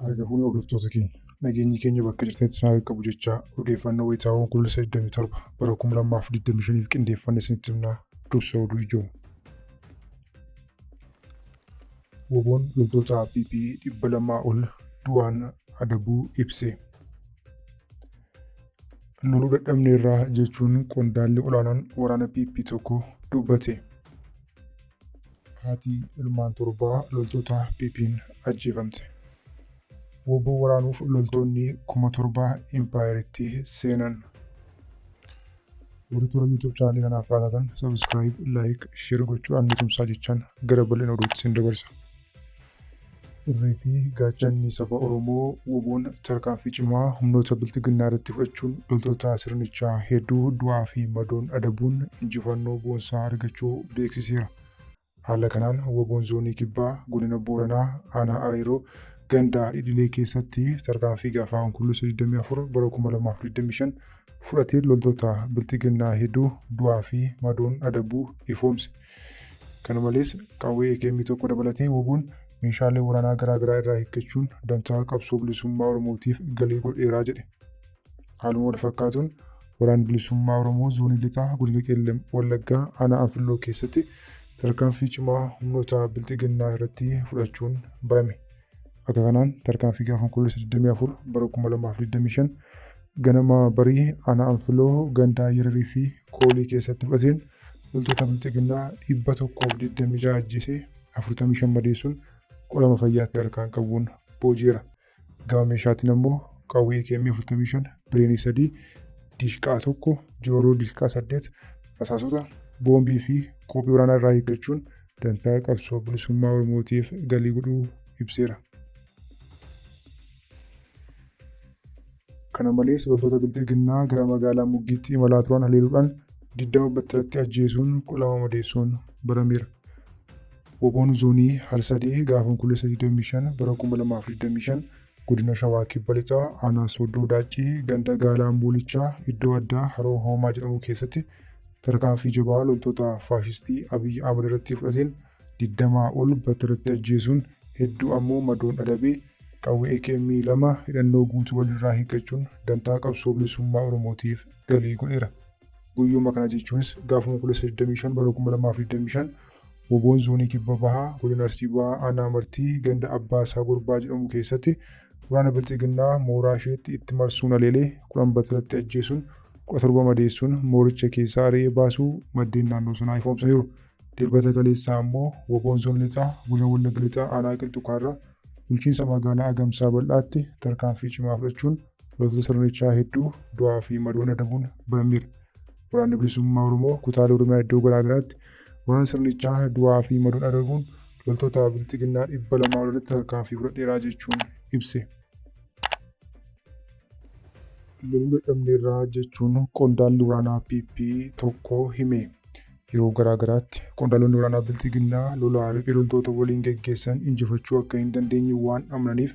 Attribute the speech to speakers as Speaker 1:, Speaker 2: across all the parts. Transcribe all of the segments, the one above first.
Speaker 1: Argafuun hordoftoota keenya nageenyi keenya bakka jirtetti isin haa qabu jechaa odeeffannoo wayitaawoo Onkoloolessa 27 bara 2025f qindeeffanne isinitti himnaa dursa oduu ijoo. Wbon loltoota PP 200 ol du'aan adabuu ibse. Loluu dadhabneerra jechuun qondaalli olaanaan waraana PP tokko dubbate. Haati ilmaan torbaa loltoota PP'n ajjeefamte. Woboo waraanuuf loltoonni kuma torba impaayeritti seenan. Warri toora YouTube chaanalii kanaaf haaraa taatan subscribe, like, share gochuudhaan nu tumsaa jechaan gara bal'ina oduutti sin dabarsa. Irree fi gaachanni saba Oromoo woboon tarkaanfii cimaa humnoota bilxiginnaa irratti fudhachuun loltoota sirnichaa hedduu du'aa fi madoon adabuun injifannoo boonsaa argachuu beeksiseera. Haala kanaan wbo'n Zoonii Kibbaa Godina Booranaa Aanaa Areeroo ganda Dhidhilee keessatti tarkaanfii gaafa Onkoloolessa 24 bara 2025 fudhateen loltoota Bilxiginnaa hedduu du'aa fi madoon adabuu ifoomse. Kana malees qawwee AKM 1 dabalatee wbo'n meeshaalee waraanaa garaagaraa irraa hiikkachuun dantaa qabsoo bilisummaa Oromootiif galii godheera jedhe. Haaluma wal fakkaatuun Waraanni Bilisummaa Oromoo Zoonii Lixaa Godina Qellem Wallaggaa Aanaa Anfilloo keessatti tarkaanfii cimaa humnoota Bilxiginnaa irratti fudhachuun barame. Akka kanaan tarkaanfii gaafa Onkoloolessa 24 bara 2025 ganama barii Aanaa Anfilloo gandaa Yararii fi Koolii keessatti fudhateen loltoota Bilxiginnaa 126 ajjeesee 45 madeessuun qolama fayyaatti harkaan qabuun booji'eera. Gama meeshaatiin ammoo qawwee AKM 45, bireenii 3, dishqaa 1, jooroo dishqaa 8, rasaasota, boombii fi koophii waraanaa irraa hiikkachuun dantaa qabsoo bilisummaa Oromootiif galii godhuu ibseera. Kana malees loltoota bilxiginnaa gara magaalaa Muggiitti imalaa turan haleeluudhaan 20 battalatti ajjeesuun 12 madeessuun barameera. Wbon Zoonii Harsadee gaafa Onkoloolessa 25 bara 2025 Godina Shawaa Kibba Lixaa Aanaa Sooddoo Daaccii ganda Gaalaa Amboolichaa iddoo addaa Haroo Hoomaa jedhamu keessatti tarkaanfii jabaa loltoota faashistii Abiy Ahmad irratti fudhateen 20 ol battalatti ajjeesuun hedduu ammoo madoon adabee qawwee AKM 2 hidhannoo guutuu walirraa hiikkachuun dantaa qabsoo bilisummaa Oromootiif galii godheera. Guyyuma kana jechuunis gaafa Onkoloolessa 25 bara 2025 Woboon Zoonii Kibba Bahaa Godina Arsii Bahaa Aanaa Martii ganda Abbaa Isaa Gorbaa jedhamu keessatti waraana Bilxiginnaa mooraa isheetti itti marsuun haleelee 10 battalatti ajjeesuun 17 madeessuun mooricha keessaa ari'ee baasuu maddeen naannoo sanaa ifoomsaniiru. Dilbata kaleessaa ammoo Woboon Zoon Lixaa Godina Wallagga Lixaa Aanaa Qilxu Kaarraa bulchiinsa magaalaa Agamsaa Bal'aatti tarkaanfii cimaa fudhachuun Loltoota sirnichaa hedduu du'aa fi madoon adabuun ba'ameera. Waraanni bilisummaa Oromoo kutaalee Oromiyaa iddoo garaa garaatti waraana sirnichaa du'aa fi madoon adabuun loltoota bilxiginnaa dhibba lamaa ol irratti tarkaanfii fudhadheeraa jechuun ibse. Loluu dadhabneerraa jechuun qondaalli waraanaa PP tokko hime. Yeroo garaa garaatti qondaalonni waraanaa bilxiginnaa lolaa riphee loltoota waliin geggeessan injifachuu akka hin dandeenye waan amananiif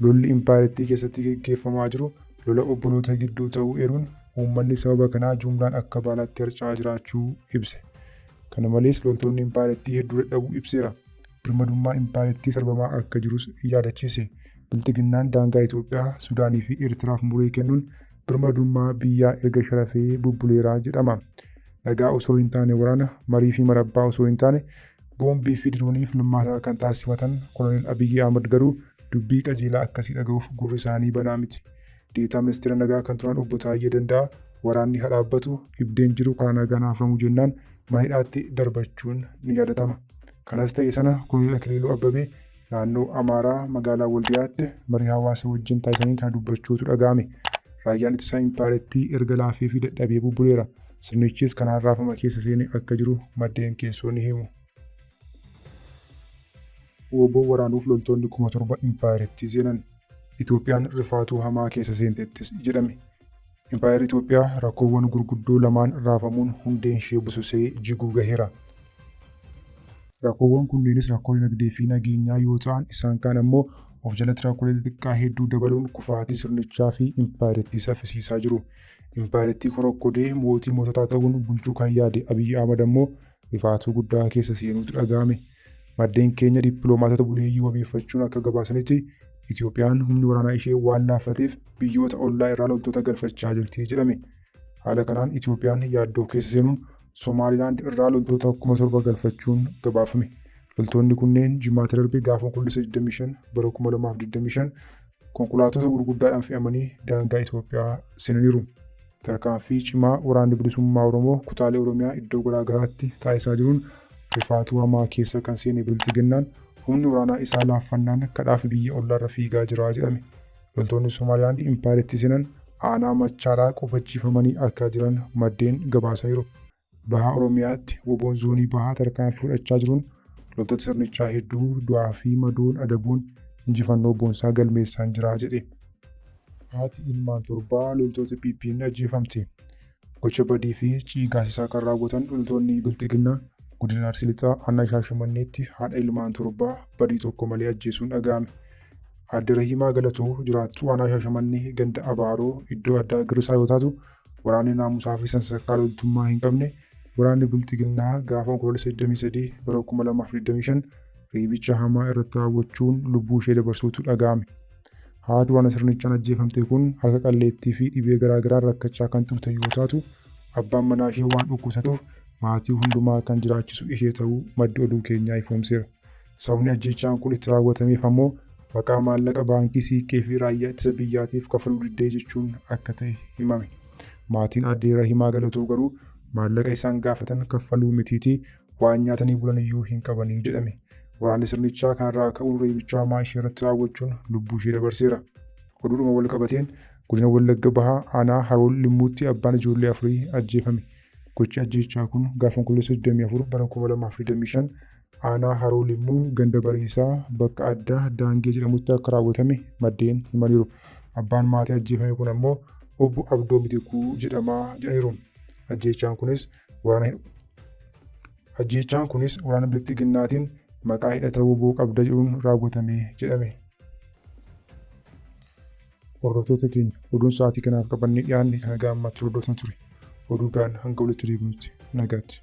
Speaker 1: Lolli impaayerattii keessatti geggeeffamaa jiru lola obboloota gidduu ta'uu eeruun, uummanni sababa kanaa jumlaan akka baalaatti harca'aa jiraachuu ibse. Kana malees loltoonni impaayerattii hedduu dadhabuu ibseera. Birmadummaa impaayerattii sarbamaa akka jirus yaadachiise. Bilxiginnaan daangaa Itoophiyaa, Sudaanii fi Eertiraaf muree kennuun birmadummaa biyyaa erga sharafee bubbuleera jedhama. Nagaa osoo hin taane waraana, marii fi marabbaa osoo hin taane boombii fi diroonii filmaataa kan taasifatan Koloneel Abiyyi Ahmad garuu Dubbii qajeelaa akkasii dhaga'uuf gurri isaanii banaa miti. Deetaa Ministeera Nagaa kan turan Obbo Taayyee Danda'aa waraanni ha dhaabbatu, dhibdeen jiru karaa nagaan haa furamu jennaan mana hidhaatti darbachuun ni yaadatama. Kanas ta'e sana Koloneel Akiliiluu Abbabee naannoo Amaaraa magaalaa Waldiyaatti marii hawaasa wajjin taasisaniin kana dubbachuutu dhaga'ame. Raayyaan Ittisaa Impaayerattii erga laafeefii dadhabee bubbuleera. Sirnichis kanaan raafama keessa seenee akka jiru maddeen keessoo ni himu. Wbo waraanuuf loltoonni kuma torba impaayerittii seenan. Itoophiyaan rifaatuu hamaa keessa seentettis jedhame. Impaayerri Itoophiyaa rakkoowwan gurguddoo lamaan raafamuun hundeen ishee bususee jiguu gaheera. Rakkoowwan kunneenis rakkoo dinagdee fi nageenyaa yoo ta'an isaan kaan ammoo of jalatti rakkoolee xixiqqaa hedduu dabaluun kufaatii sirnichaa fi impaayerittii saffisiisaa jiru. Impaayerittii korokkodee mootii moototaa ta'uun bulchuu kan yaade Abiy Ahmad ammoo Rifaatuu guddaa keessa seenuutu dhaga'ame. Maddeen keenya dippiloomaatota buleeyyii wabeeffachuun akka gabaasanitti Itoophiyaan humni waraanaa ishee waan laaffateef biyyoota ollaa irraa loltoota galfachaa jirti jedhame. Haala kanaan Itoophiyaan yaaddoo keessa seenuun Somaalilaand irraa loltoota kuma torba galfachuun gabaafame. Loltoonni kunneen Jimaata darbe gaafa Onkoloolessa 25 bara 2025 Konkolaattota gurguddaadhaan fe'amanii daangaa Itoophiyaa seenaniiru. Tarkaanfii cimaa waraanni bilisummaa Oromoo kutaalee Oromiyaa iddoo garaa garaatti taasisaa jiruun rifaatuu hamaa keessa kan seene Bilxiginnaan humni waraanaa isaa laaffannaan kadhaafi biyya ollaarra fiigaa jira jedhame. Loltoonni Somaalilaand impaayerattii seenan aanaa Machaaraa qubachiifamanii akka jiran maddeen gabaasaniiru. Baha Oromiyaatti woboon zoonii bahaa tarkaanfii fudhachaa jiruun loltoota sirnichaa hedduu du'aa fi madoon adabuun injifannoo boonsaa galmeessaan jira jedhe. Haati ilmaan torbaa loltoota PP'n ajjeefamte. Gocha badii fi ciigaasisaa kan raawwatan loltoonni Bilxiginnaa godina Arsii Lixaa aanaa Shaashamanneetti haadha ilmaan torbaa badii tokko malee ajjeesuun dhaga'ame. Aadde Rahiimaa Galatoo jiraattuu aanaa Shaashamannee ganda Abaaroo iddoo addaa Girsaa yoo taatu Waraanni naamusaa fi sansakkaa loltummaa hin qabne waraanni Bilxiginnaa gaafa Onkoloolessa 23 bara 2025 reebicha hamaa irratti raawwachuun lubbuu ishee dabarsuutu dhaga'ame. Haati waraana sirnichaan ajjeefamte kun harka qalleettii fi dhibee garaa garaan rakkachaa kan turte yoo taatu, abbaan manaa ishee waan dhukkubsatuuf maatii hundumaa kan jiraachisu ishee ta'uu maddi oduu keenyaa ifoomseera. Sababni ajjeechaan kun itti raawwatameef ammoo maqaa maallaqa baankii siiqqee fi raayyaa ittisa biyyaatiif kafaluu diddee jechuun akka ta'e himame. Maatiin aadde Rahimaa Galatoo garuu maallaqa isaan gaafatan kaffaluu mitiitii waan nyaatanii bulaniyyuu hin qabanii jedhame. Waraanni sirnichaa kanarraa ka'uun reebicha hamaa isheerratti raawwachuun lubbuu ishee dabarseera. Oduudhuma wal qabateen godina Wallagga Bahaa aanaa Haroo Limmuutti abbaan ijoollee afurii ajjeefame. Gochi ajjeechaa kun gaafa Onkoloolessa 24 bara 2025 Aanaa Haroo Limmuu ganda Bariisaa bakka addaa Daangee jedhamutti akka raawwatame maddeen himaniiru. Abbaan maatii ajjeefame kun ammoo obbo Abdoo Mitikuu jedhama jedhaniiru. Ajjeechaan kunis waraana Ajjeechaan kunis waraana bilxiginnaatiin maqaa hidhata woboo qabda jedhuun raawwatame jedhame. Hordoftoota keenya oduun sa'aatii kanaaf qabannee dhiyaanne kan gaammaatti hordoftan ture. Oduu biraan hanga walitti deebinutti nagaatti.